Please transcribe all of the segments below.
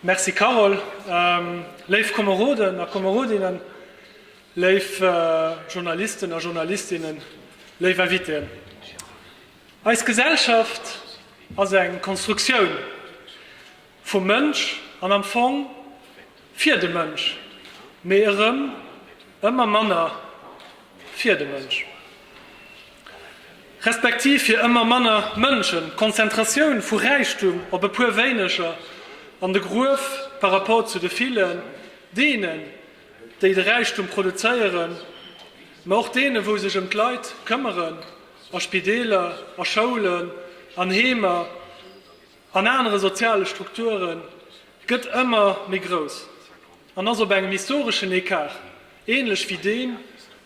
Merci Carole. Léif Komeroden a Komerodinnen, léif Journalisten a Journalistinnen, léif Invitéen. Eis Gesellschaft ass eng Konstruktioun vum Mënsch an am Fong fir de Mënsch, mee erëm ëmmer manner fir de Mënsch, respektiv fir ëmmer manner Mënschen, d'Konzentratioun vu Räichtum op e puer wéineger an de Gruef par rapport zu de villen, deenen, déi de Räichtum produzéieren, mä och deene wou sech ëm d'Leit këmmeren, a Spideeler, a Schoulen, an Heemer. an anere soziale Strukture gëtt ëmmer méi grouss an ass op engem historeschen Ecart, änlech wéi deem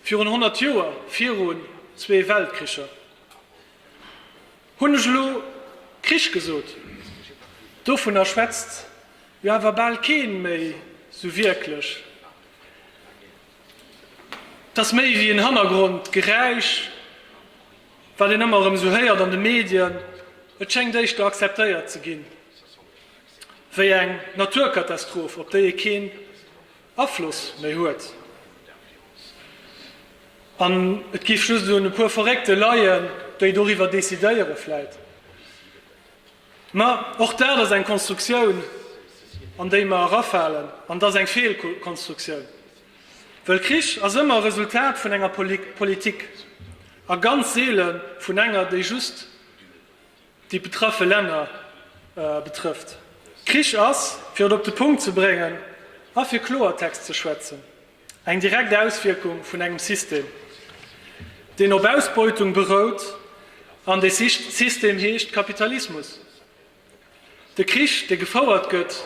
virun 100 Joer, virun zwee Weltkricher. Hunn ech elo Krich gesot? Dovunner schwätzt jo awer bal kee méi sou wierklech. Et ass méi wéi en Hannergrondgeräisch. Wat een ëmmer erëm esou héiert an de Medien, et schéngt éischter akzeptéiert ze ginn, wéi eng Naturkatastroph, op déi ee keen Afloss méi huet. An et géif just un e puer Verréckte leien, déi doriwwer decidéieren vläit. Mä och dat ass eng Konstruktioun, an déi mer erafalen, an et ass eng Feelkonstruktioun, well Krich ass ëmmer e Resultat vun enger Politik a ganz seele vun enger, déi just déi betraffe Länner betrëfft. Krich ass, fir et op de Punkt ze bréngen a fir Kloertext ze schwätzen, Eng direkt Auswierkung vun engem System, deen op Ausbeutung berout, an dee System heescht Kapitalismus. De Krich, dee gefouert gëtt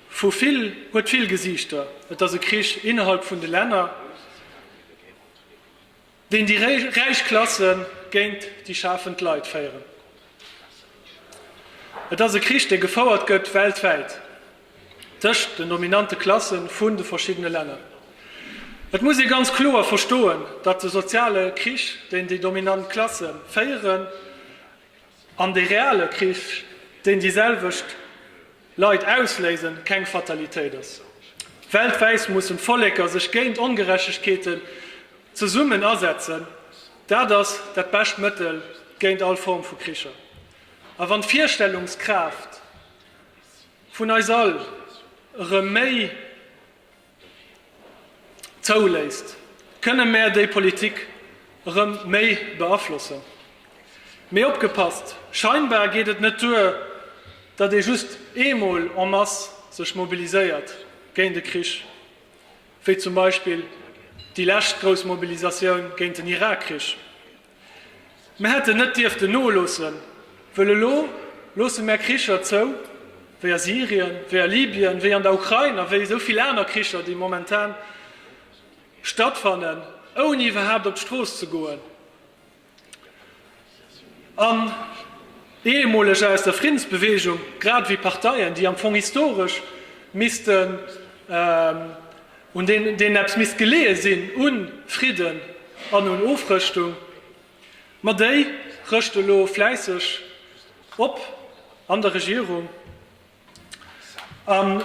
vu vill, huet vill Gesiichter. Et ass e Krich innerhalb vun de Länner. Deen déi räich Klasse géint déi schafend Leit féieren. Et ass e Krich, dee gefouert gëtt weltwäit tëscht den dominante Klasse vun de verschiddene Länner. Et muss ee ganz kloer verstoen, datt de soziale Krich, deen déi dominant Klasse féieren, an de reale Krich, deen déi selwecht Leid ausléisen keng Fatalitéit ass. Weltwäit mussen d'Volleker sech géint Ongerechtegkeeten zesummen asetzen. Dat ass dat bescht Mëttel géint all Form vu Kricher. A wann d'Virstellungskraaft vun eis all erëm méi. zouléisst, kënne mär déi Politik erëm méi beaflossen. Mee opgepasst, scheinbar geet et net duer, datt ee just eemol en masse sech mobiliséiert géint e Krich, wéi zum Beispill déi lescht grouss Mobilisatioun géint den Irakkrich. Mär hätten net dierften noloossen, wëll elo loosse mär Kricher zou, wéi a Syrien, wéi a Libyen, wéi an der Ukrain a wéi esou vill aner Kricher, déi momentan stattfannen, ouni iwwerhaapt op d'Strooss ze goen an Ehemolege aus der Friddensbewegung, grad ewéi Parteien, déi am Fong historesch missten, un deenen eppes misst geleeë sinn, u Fridden an un Ofrëschtung, ma déi rëscht elo fläisseg op an der Regierung an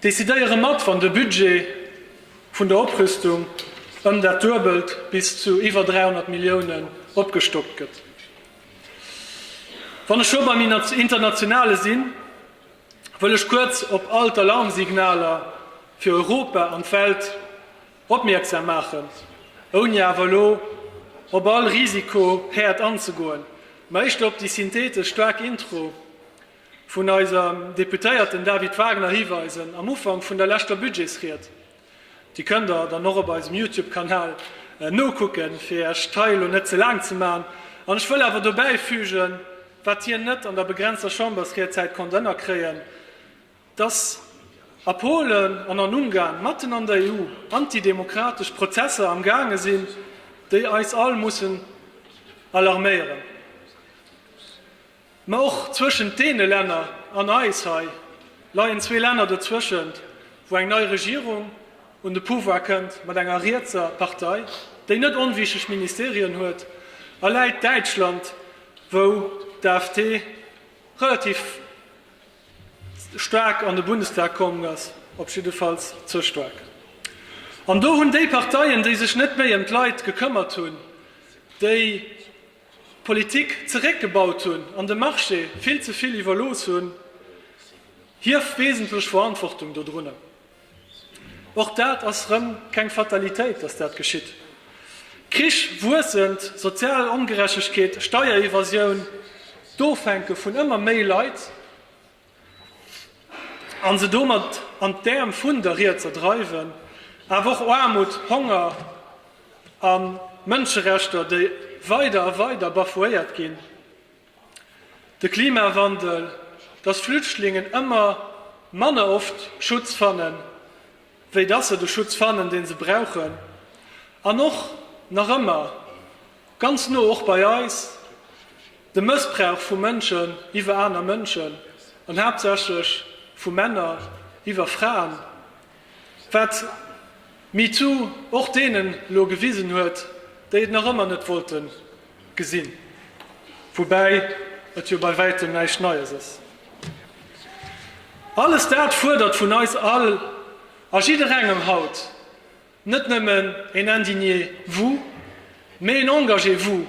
decidéiere mat, wann de Budget vun der Oprüstung ëm dat Duebelt, bis zu iwwer 300 Milliounen, opgestockt gëtt. Wann ech scho beim Internationale sinn, wëll ech kuerz op all d'Alarmsignaler fir Europa an d'Welt opmierksam maachen, ouni awer elo op all Risikohäerd anzegoen, mä éischter op déi synthetesch staark Intro vun eiserem Deputéierten David Wagner hiweisen am Ufank vun der leschter Budgetsried. Déi kënnt der dann och op eisem Youtube Kanal nokucken, fir iech d'Rei elo net ze laang ze man. An ech wëll awer dobäi fügen, wat hien net an der begrenzter Chambersriedzäit konnt ënnerkréien, dass a Polen an an Ungarn, matten an der EU, antidemokratesch Prozesser am gaange sinn, déi eis all mussen alarméieren. Mä och zwëschent deene Länner an eis hei leien zwee Länner dozwëschent, wou eng nei Regierung un de Pouvoir kënnt mat enger rietser Partei, déi net onwichtig Ministerien huet, a läit Däitschland, wou d'AfD relativ staark an de Bundestag komm ass, op jiddefalls ze staark. An do hunn déi Parteien, déi sech net méi ëm d'Leit gekëmmert hunn, déi. Politik zeréckgebaut hunn an de Marché vill ze vill iwwerlooss hunn, hir wesentlech Verantwortung dodrunner. Och dat ass rëm keng Fatalitéit, datt dat geschitt. Krich, wuessend sozial Ongerechtegkeet, Steierevasioun, d'Ofhänke vun ëmmer méi Leit, a se domat an d'Äerm vun der Rietser dreiwen, awer och Aarmut, Honger a Mënscherechter, déi weider a weider bafouéiert ginn, de Klimawandel, dass Flüchtlingen ëmmer manner oft Schutz fannen, wéi dass se de Schutz fannen, dee se brauchen, an och nach ëmmer Ganz no och bei eis, de Mëssbrauch vu Mënschen iwwer aner Mënschen, an haaptsächlech vu Männer iwwer Fraen, wat MeToo och deenen elo gewisen huet, déi et nach ëmmer net wollte gesinn, woubäi et jo bei wäitem näischt Neies ass. Alles dat fuerdert vun eis all a jidderengem haut, Net nëmmen een Indignez-vous, mee een Engagez-vous,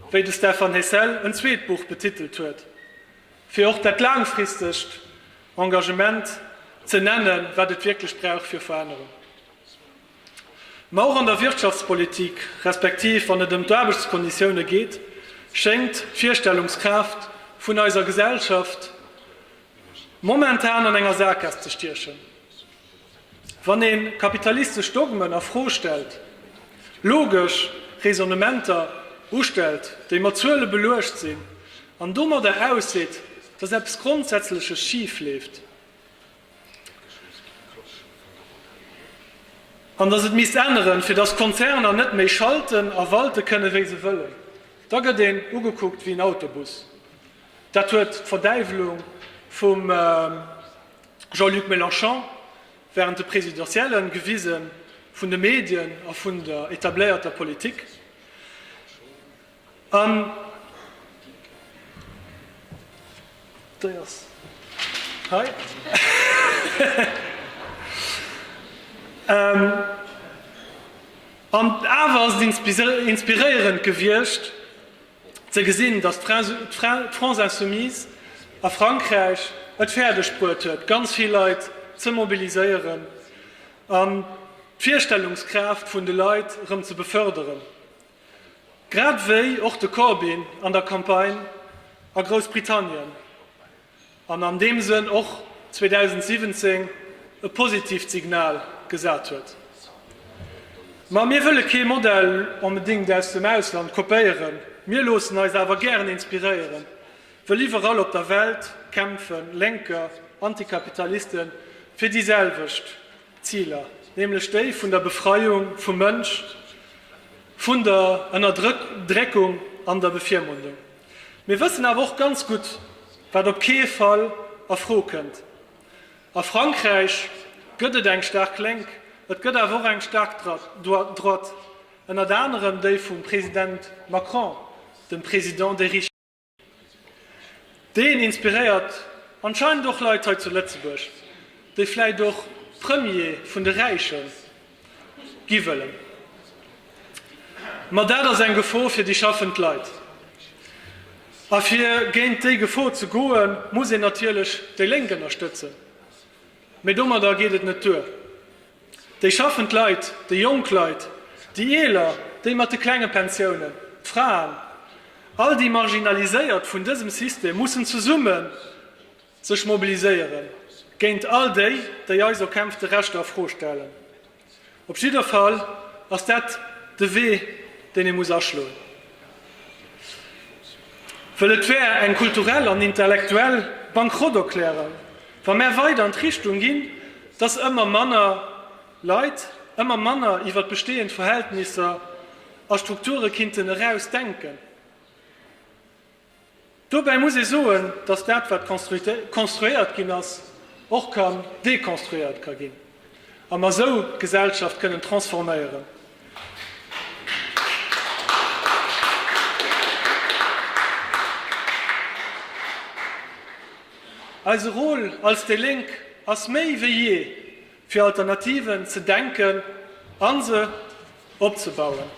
wéi de Stephan Hessel en zweet Buch betitelt huet, fir och dat laangfristegt Engagement ze nennen, wat et wierklech brauch fir Verännerung. Ma och an der Wirtschaftspolitik, respektiv wann et ëm d'Aarbechtskonditioune geet, schéngt d'Virstellungskraaft vun eiser Gesellschaft momentan an enger Sakaass ze stiechen. Wann een kapitalistesch Dogmen a Fro stellt, logesch Raisonnementer ustellt, déi mat Zuele beluecht sinn, an domadder ausseet, dass eppes Grondsätzleches schif leeft, an dass et misst änneren, fir dass d'Konzerner net méi schalten a walte kënnen, wéi se wëllen, da gëtt een ugekuckt wéi en Autobus. Dat huet d'Verdäiwelung vum Jean-Luc Mélenchon, Wärend de Presidentiellen, gewise vun de Medien a vun der etabléierter Politik, an awer ass et inspiréierend gewiescht, ze gesinn, datt d'France insoumise a Frankräich et fäerdeg bruet huet, ganz vill Leit ze mobiliséieren an d'Virstellungskraaft vun de Leit erëm ze beförderen, grad wéi och de Corbyn an der Campagne a Groussbritannien. an an deem Sënn och 2017 e positiivt Signal gesat huet. Ma mir wëlle kee Modell onbedéngt aus dem Ausland kopéieren, mir loossen eis awer gären inspiréieren, wëll iwwerall op der Welt kämpfe lénker Antikapitaliste fir déi selwecht Ziler, nämlech déi vun der Befreiung vum Mënsch vun der Ënnerdréckung an der Bevirmundung. Mir wëssen awer och ganz gutt, wat op kee Fall a Fro kënnt, A Frankräich gëtt et eng staark Lénk, et gëtt awer och eng staark Droite, ënnert anerem déi vum President Macron, dem Président des riches. Deen inspiréiert anscheinend och Leit hei zu Lëtzebuerg, déi vläicht och Premier vun de Räiche gi wëllen. Ma dat ass eng Gefor fir déi schaffend Leit. A fir géint déi Gefor ze goe muss een natierlech déi Lénk ënnerstëtzen. Mee domadder geet et net duer. Déi schaffend Leit, déi jonk Leit, déi eeler, déi mat de klenge Pensiounen, d'Fraen, all déi Marginaliséiert vun dësem System mussen zesummen Sech mobiliséiere géint all déi, déi eis erkämpfte Rechter a Fro stellen. Op jidder Fall ass dat de Wee, deen ee muss aschloen. Wëll et wär eng kulturell an intellektuell Bankrotterklärung, wa mär weider an d'Richtung ginn, dass ëmmer manner Leit ëmmer manner iwwert bestehend Verhältnisser a Strukture kinnten eraus denken. Dobäi muss ee soen, dass dat wat konstruéiert ginn ass, och kann dekonstruéiert ka ginn a mer esou d'Gesellschaft kënnen transforméieren. Eise Rôle als déi Lénk ass méi wéi jee fir Alternativen ze denken a se opzebauen.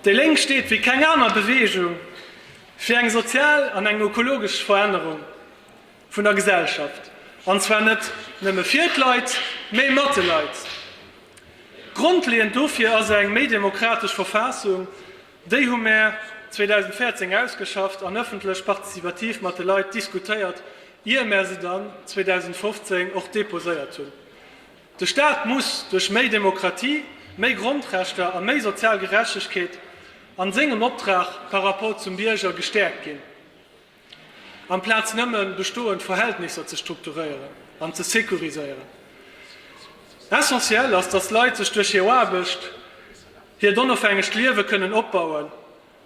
Déi Lénk steet wéi keng aner Beweegung fir eng sozial an eng ökologesch Verännerung vun der Gesellschaft, an zwar net nëmme fir d'Leit, mee mat de Leit. Grondleeënd dofir ass eng méi demokratesch Verfaassung, Déi hu mär 2014 ausgeschafft an ëffentlech participativ mat de Leit diskutéiert, ier mär se dann 2015 och deposéiert hunn. De Staat muss duerch méi Demokratie, méi Grondrechter a méi sozial Gerechtegkeet a sengem Optrag par rapport zum Bierger gestäerkt ginn. Amplaz nëmme bestoend Verhältnisser ze strukturéieren an ze securiséieren. Essentiel ass, datt Leit sech duerch hir Aarbecht hiert onofhängegt Liewe kënnen opbauen.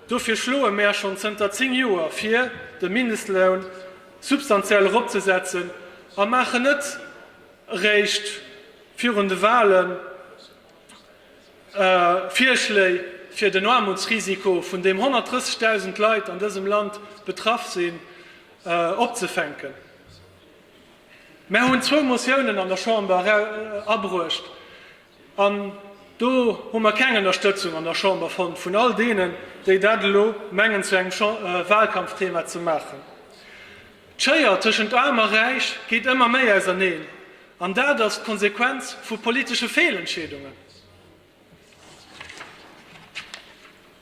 Dofir schloe mär schonn zënter 10 Joer vir, de Mindestloun substantiell eropzesetzen a maachen net eréischt virun de Wahlen Virschléi fir den Aarmutsrisiko vun deem 130.000 Leit an dësem Land betraff sinn, opzefänken. Mär hunn zwou Motiounen an der Chamber abruecht an do hu mer keng Ënnerstëtzung an der Chamber fonnt vun all deenen, déi dat elo mengen zu engem Wahlkampfthema ze maachen. D'Schéier tëschent Aarm a Räich geet ëmmer méi auserneen, an dat ass d'Konsequenz vu politesche Feelentscheedungen.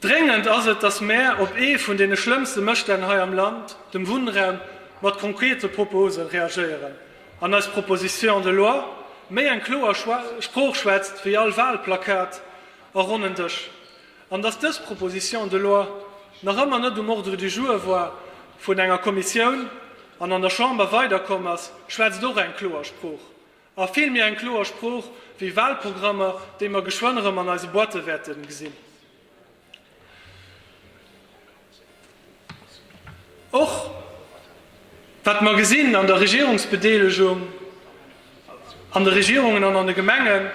Dréngend ass et, datt mär op ee vun deene schlëmmste Mësstänn hei am Land, dem Wunnraum, mat konkrete Propose reagéieren an eis Proposition de loi méi eng kloer Sprooch schwätzt wéi all Walplakat a ronnen Dësch. an dass dës Proposition de loi nach ëmmer net um Ordre du jour war vun enger Kommissioun an an der Chamber weiderkomm ass, schwätzt och eng kloer Sprooch, a vill méi eng kloer Sprooch wéi Wahlprogrammer, déi mer geschwënn erëm an eise Boîte wäerte gesinn. Och wat mer gesinn an der Regierungsbedeelegung, an de Regierungen an an de Gemengen,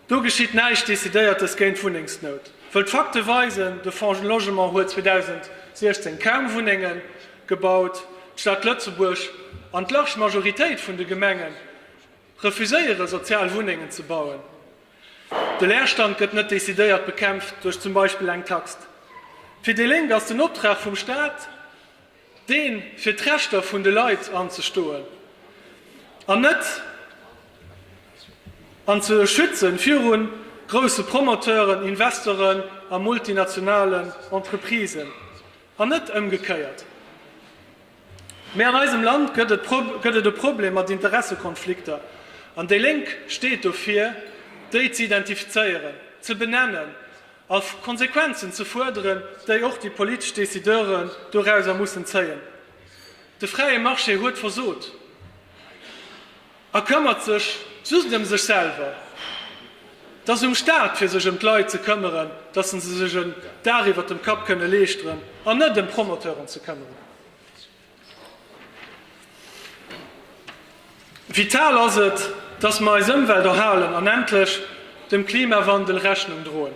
Do geschitt näischt Decidéiertes géint d'Wunnengsnout, wëll d'Fakte weisen, de Fonds Logement huet 2016 kaum Wunnenge gebaut, d'Stad Lëtzebuerg an d'large Majoritéit vun de Gemenge refuséiere sozial Wunnengen ze bauen. De Leerstand gëtt net decidéiert bekämpft duerch zum Beispill eng Tax. Fir déi Lénk ass den Optrag vum Staat, dee fir d'Rechter vun de Leit anzestoen an net an ze schützen viru grousse Promoteuren, Investoren a multinationalen Entreprisen an net ëmgekéiert. Mee an eisem Land gëtt et e Problem mat Interessekonflikter an déi Lénk steet dofir, déi ze identifizéieren, ze benennen A Konsequenzen ze fuerderen, déi och déi politesch Decideuren dorauser mussen zéien. De fräie Marché huet versot a këmmert sech just ëm sech selwer. Et ass um Staat fir sech ëm d'Leit ze këmmeren, datt se sech en Dag iwwert dem Kapp kënne leeschteren, an net ëm Promoteuren ze këmmeren. Vital ass et, dass mer eis Ëmwelt erhalen an endlech dem Klimawandel Rechnung droen.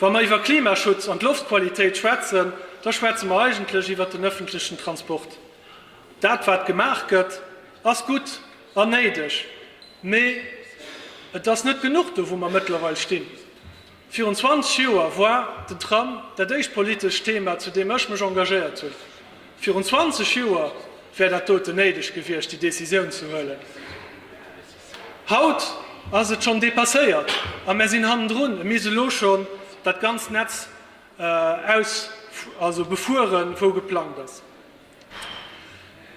Wa mer iwwer Klimaschutz an d'Loftqualitéit schwätzen, da schwätze mer eigentlech iwwer den ëffentlechen Transport. Dat, wat gemaach gëtt, ass gutt an néideg, mee et ass net genuch do, wou mer mëttlerweil stinn. Virun 20 Joer war den Tram dat éischt politescht Thema, zu deem ech mech engagéiert hunn. Virun 20 Joer wär dat doten néideg gewiescht, déi Décisioun ze huelen. Haut ass et schonn dépasséiert a mär sinn hannendrun. Et misst elo schonn dat ganzt Netz befueren, wou geplangt ass.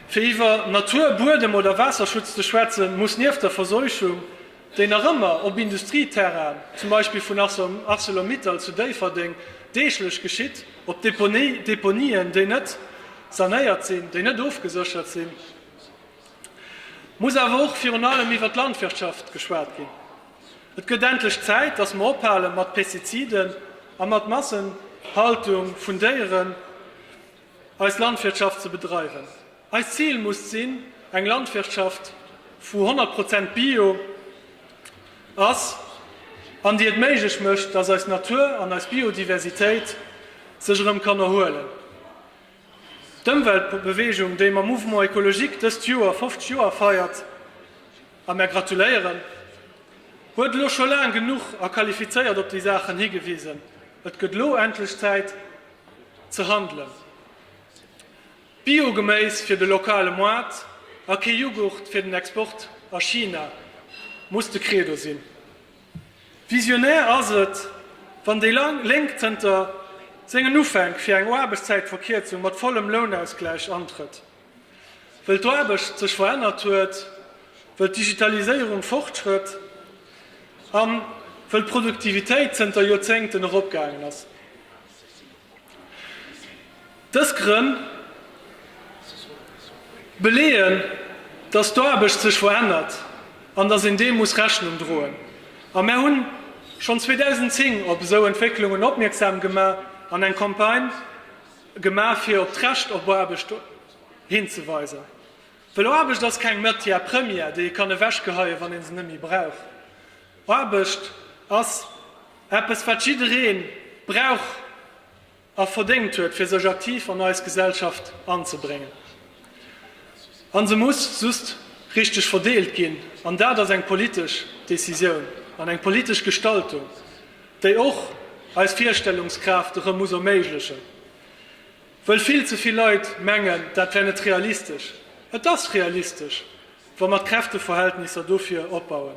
Fir iwwer Natur-, Buedem oder Waasserschutz ze schwätzen, muss nieft der Verseuchung, déi nach ëmmer op Industrieterrainen, zum Beispill vun Arcelor-Mittal zu Déifferdeng, deeglech geschitt, op Deponien, déi net sanéiert sinn, déi net ofgeséchert sinn, muss awer och virun allem iwwer d'Landwirtschaft geschwat ginn. Et gëtt endlech Zäit, dass mer ophale mat Pestiziden a mat Massenhaltung vun Déieren. eis Landwirtschaft ze bedreiwen. Eist Zil muss sinn, eng Landwirtschaft, wou 100 Prozent Bio ass an déi et méiglech mécht, dass eis Natur an eis Biodiversitéit sech erëm kann erhuelen. D'Ëmweltbewegung, déi mam Mouvement écologique dëst Joer 50 Joer feiert, a mär gratuléieren, huet elo scho laang genuch a qualifizéiert op déi Saachen higewisen. Et gëtt elo endlech Zäit, ze handelen. Bio-Geméis fir de lokale Moart a kee Jughurt fir den Export a China, muss de Credo sinn. Visionär ass et, wann déi laang Lénk zënter sengen Ufänk fir eng Aarbechtszäitverkierzung mat vollem Lounausgläich antrëtt. Wëll d'Aarbecht sech verännert huet, wëll d'Digitaliséierung fortschrëtt a wëll d'Produktivitéit zënter Joerzéngten eropgaangen ass. Dës Grënn beleeën, datt d'Aarbecht sech verännert an datt een deem muss Rechnung droen. A mär hunn schonn 2010 op esou Entwécklungen opmierksam gemaach an eng Campagne, Gemaach fir op d'Recht op Aarbecht hinzeweisen. Well Aarbecht ass keng Matière première, déi ee kann ewechgeheien, wann ee se net méi brauch. Aarbecht ass eppes, wat jidderee brauch a verdéngt huet, fir sech aktiv an eis Gesellschaft anzebréngen. A se muss just richteg verdeelt ginn. An dat ass eng politesch Decisioun an eng politesch Gestaltung. déi och eis Virstellungskraaft erëm muss erméiglechen, wëll vill ze vill Leit mengen, dat wär net realistesch. Et ass realistesch, wa mer d'Kräfteverhältnisser dofir opbauen.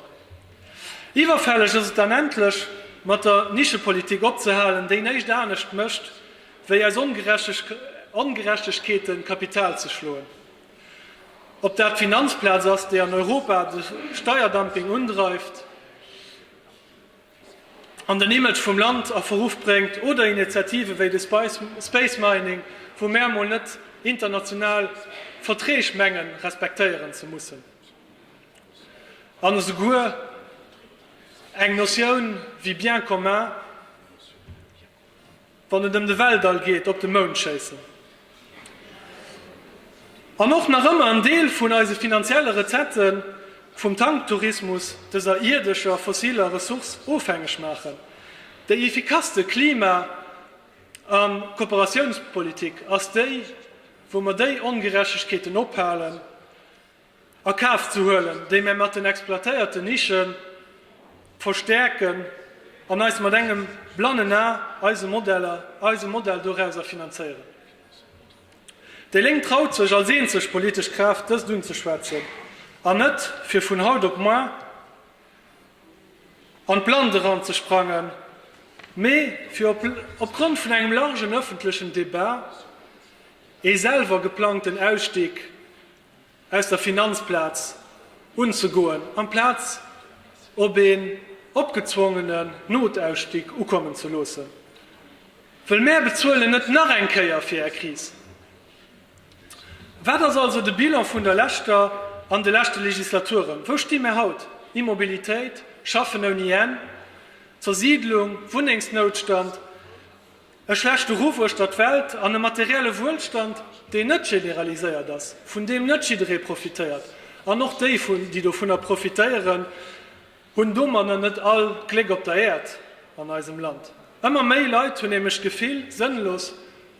Iwwerfälleg ass et dann endlech mat der Nischepolitik opzehalen, déi néischt anescht mécht, wéi aus Ongerechtegkeeten Kapital ze schloen. Ob dat d'Finanzplaz ass, déi an Europa de Steierdumping undreift, an den Image vum Land a Verruff bréngt, oder Initiative wéi de Space Mining, wou mär emol net international Verträg mengen respektéieren ze mussen, an esouguer eng Notioun wéi Bien commun. Wann et ëm de Weltall geet, op de Mound schéissen an och nach ëmmer en Deel vun eise finanzielle Rezette vum Tanktourismus dëser ierdescher fossiler Ressource ofhängeg maachen. Déi effikasste Klima a Kooperatiounspolitik ass déi, wou mer déi Ongerechtegkeeten ophalen a Kaf ze huelen, déi mär mat den exploitéierte Nische verstäerken an eis mat engem blannen A eise Modell dorauser finanzéieren. Déi Lénk traut sech als eenzeg politesch Kraaft dëst unzeschwätzen an net fir vun haut op moar an d'Blannt eran ze sprangen, mee fir op Grond vun engem largen ëffentlechen Debat ee selwer geplangten Ausstig aus der Finanzplaz unzegoen, amplaz op een opgezwongenen Notausstieg ukommen ze loossen. Wëll mär bezuelen net nach eng Kéier fir är Kris. Wat ass also de Bilan vun der leschter an de leschte Legislaturen? Wou sti mär haut? Immobilitéit, Schaffen ouni Enn, Zersiidlung, Wunnengsnoutstand. E schlechte Ruff uechtert d'Welt an e materielle Wuelstand, deen net generaliséiert ass, vun deem net jidderee profitéiert, an och déi, déi dovunner profitéieren, hunn domanner net all d'Gléck op der Äerd an eisem Land. Ëmmer méi Leit hunn nämlech d'Gefill, sënnlos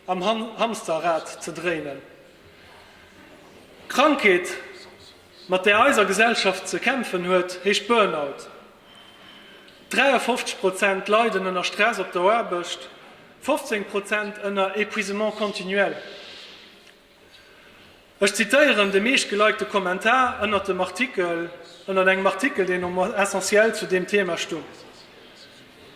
am Hamsterrad ze dréinen. D'Krankheet, mat där eiser Gesellschaft ze kämpfen huet, heescht Burnout. 53 Prozent leiden ënner Stress op der Aarbecht, 15 Prozent ënner Épuisement continuel. Ech zitéieren de meeschtgelikte Kommentar ënnert dem Artikel, ënnert engem Artikel, deen um Essentiel zu deem Thema stung.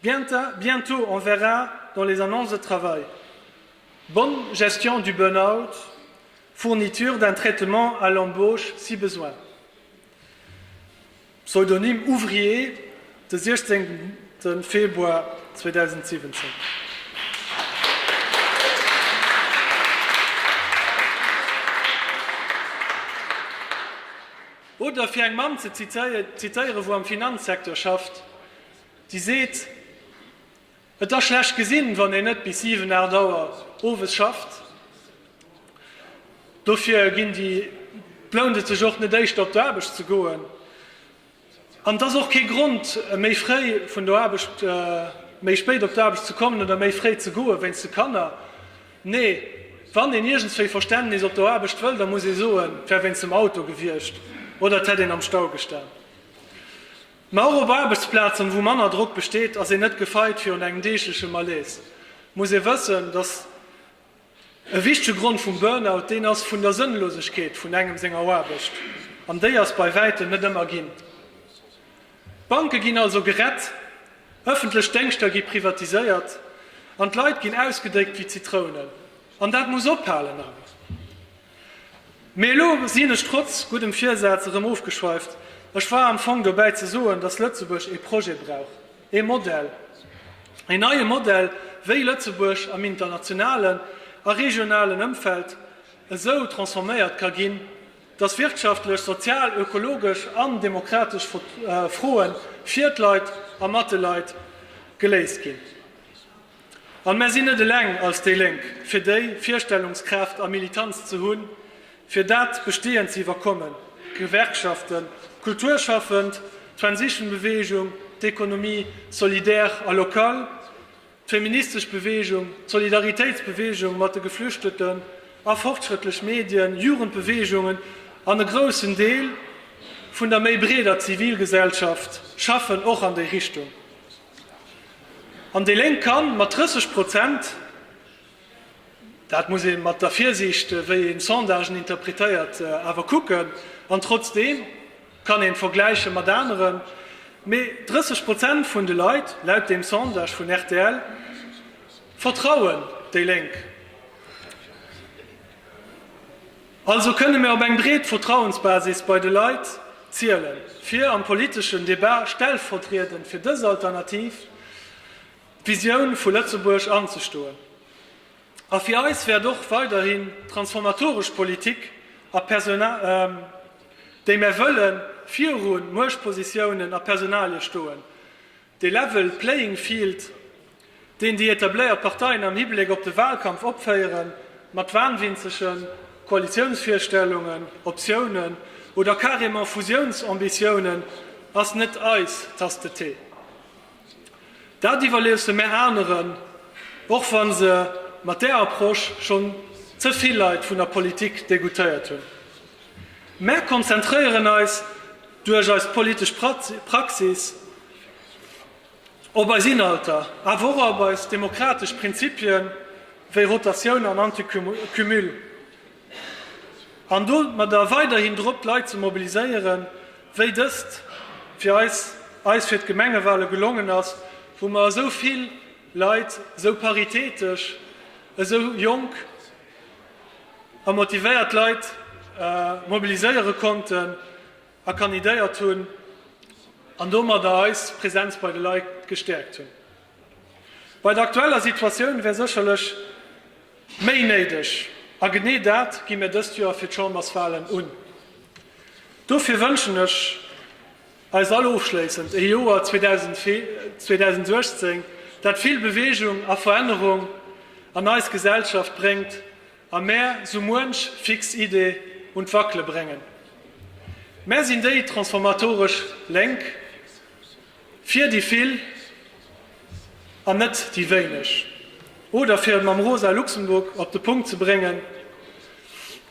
Bienta, bientôt on verra dans les annonces de travail, bonne gestion du burn-out, fourniture d'un traitement à l'embauche si besoin. Pseudonym ouvrier, de 16 Februar 2017. Oder fir eng Mamm ze zitéieren, wou am Finanzsecteur schafft, Déi seet, Et ass schlecht gesinn, wann een net bis 7, 8 Auer owes schafft. Dofir ginn déi, lount et sech och net éischter op d'Aarbecht ze goen. An et ass och kee Grond, méi fréi vun der Aarbecht, méi spéit op d'Aarbecht ze kommen oder méi fréi ze goen, wéinst de Kanner. Nee, wann een iergendswéi Verständnis op der Aarbecht wëll, da muss ee soen, et wär wéinst dem Auto gewiescht oder et hätt een am Stau gestan. Mä och op Aarbechtsplazen, wou manner Drock besteet, ass een net gefeit virun engem deegleche Malaise. Muss ee wëssen, datt e wichtege Grond vum Burnout deen ass vun der Sënnlosegkeet vun engem senger Aarbecht, an déi ass bei wäitem net ëmmer ginn. D'Banke ginn also gerett, ëffentlech Déngschter gi privatiséiert an d'Leit ginn ausgedéckt wéi Zitrounen. An dat muss ophalen! An. Mee elo sinn ech trotz guddem Virsaz erëm ofgeschweift. Ech war am Fong dobäi ze soen, dass Lëtzebuerg ee Projet brauch, ee Modell, een neie Modell, wéi Lëtzebuerg am internationalen a regionalen Ëmfeld esou transforméiert ka ginn, dass wirtschaftlech, sozial, ökologesch an demokratesch Froe fir d'Leit a mat de Leit geléist ginn. An mär sinn net eleng als déi Lénk fir déi Virstellungskraaft a Militanz ze hunn, fir dat Bestehend ze iwwerkommen, d'Gewerkschaften, d'Kulturschaffend, d'Transition-Beweegung, d'Economie solidaire a local, d'feministesch Beweegung, d'Solidaritéitsbeweegung mat de Geflüchteten a fortschrëttlech Medien, Jugendbeweegungen an e groussen Deel vun der méi breeder Zivilgesellschaft schaffen och an déi Richtung. An déi Lénk kann mat 30 Prozent, dat muss ee mat der Virsiicht, wéi ee Sondagen interpretéiert, awer kucken, an trotzdeem kann een vergläiche mat aneren, mee 30 Prozent vun de Leit, laut deem Sondage vun rtl, vertrauen déi Lénk. Also kënne mir op eng breet Vertrauensbasis bei de Leit ziele fir am politeschen Debat stellvertriedend fir dës alternativ Visioun vu Lëtzebuerg anzestoen. A fir eis wäert och weiderhin d'transformatoresch Politik a Personalien, déi mär wëllen, viru Muechtpositiounen a Personalie stoen. De level playing field, deen déi etabléiert Parteien am Hibleck op de Wahlkampf opféieren, mat wahnwinzegen Koalitiounsvirstellungen, Optiounen oder carrément Fusiounsambitiounen, ass net eis Tasse de thé. Dat iwwerléusse mär aneren, och wa se mat där Approche schonn ze vill Leit vun der Politik degoutéiert hunn. Mär konzentréieren eis Duerch eis politesch Praxis, op eis Inhalter, awer och op eis demokratesch Prinzipie wéi Rotatioun an Anticumul, an domadder weiderhin drop d'Leit ze mobiliséieren, wéi dëst fir eis eis fir d'Gemengewale gelongen ass, wou mer esou vill Leit esou paritätesch, esou jonk a motivéiert Leit mobiliséiere konnten a kandidéiert hunn an domadder eis Präsenz bei de Leit gestäerkt hunn. Bei der aktueller Situatioun wär sécherlech méi néideg a genee dat gi mir dëst Joer fir d'Chamberswalen un. Dofir wënschen ech. Eis all ofschléissend ee Joer 2018, dat vill Beweegung a Verännerung an eis Gesellschaft bréngt a mär sou muench fix Idee un d'Wackele bréngen. Mär sinn déi transformatoresch Lénk, fir déi vill an net déi wéineg. Oder fir et mam rosa Luxemburg op de Punkt ze bréngen,